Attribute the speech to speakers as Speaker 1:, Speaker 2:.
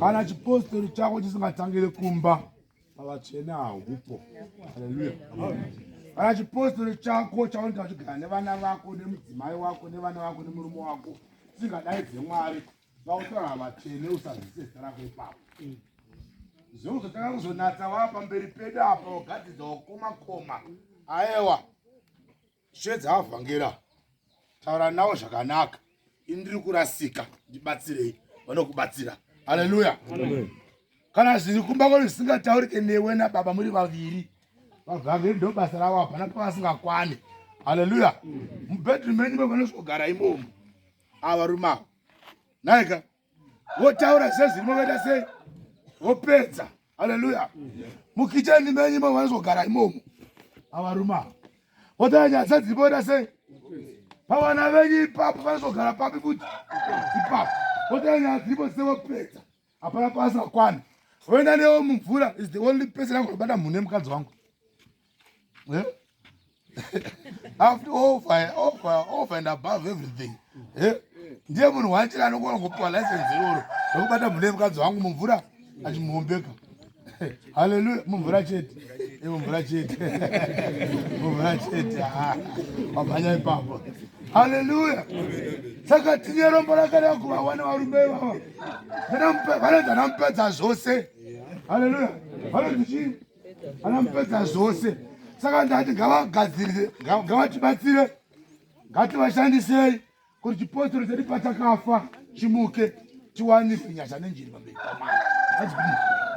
Speaker 1: kana chipostori chako chisingatangire kumba pavatsvene haupo haleluya kana chipostori chako chaunoita vachigara nevana vako nemudzimai wako nevana vako nemurume wako chingadai dzemwari vautaura vatsvene usazise zita rako ipapo zveuzotanga kuzonatsa wava pamberi pedu apa wagadzidza wakomakoma aewa Shedza avhangera taura nawo zvakanaka ini ndiri kurasika ndibatsirei vanokubatsira haleluya kana zviri kumba kwenu zvisingataurike newe nababa muri vaviri vavhangeri ndo basa ravo hapana pavasingakwane haleluya mubedroom menyu mevanosvogara imomo avarume avo naika wotaura sezviri makaita sei wopedza haleluya mukicheni menyu imomo vanozogara imomo avarume ava wotaura nyaya sedziri moita sei pavana venyu ipapo vanozogara papi futi ipapo wotaura nyaya dziripo dzise wopedza hapana pasi vakwana voenda newo mumvura is the only person angobata munhu nemukadzi wangu eh? after all fire all fire all fire and above everything eh? ndiye munhu wachira anokona kupiwa license iroro rekubata mune mukadzi wangu mumvura achimuombeka haleluya mumvura chete mumvura chete mumvura chete ah, wamhanya ipapo haleluya saka tine rombo rakareva kuva wana varume ivava vanonzi anamupedza zvose haleluya vanonzi chii anamupedza zvose saka ndati ngavagadzirire ngavatibatsire ngativashandisei kuti chipostori chedu pachakafa chimuke tiwanise nyasha nenjiri pamberi pamai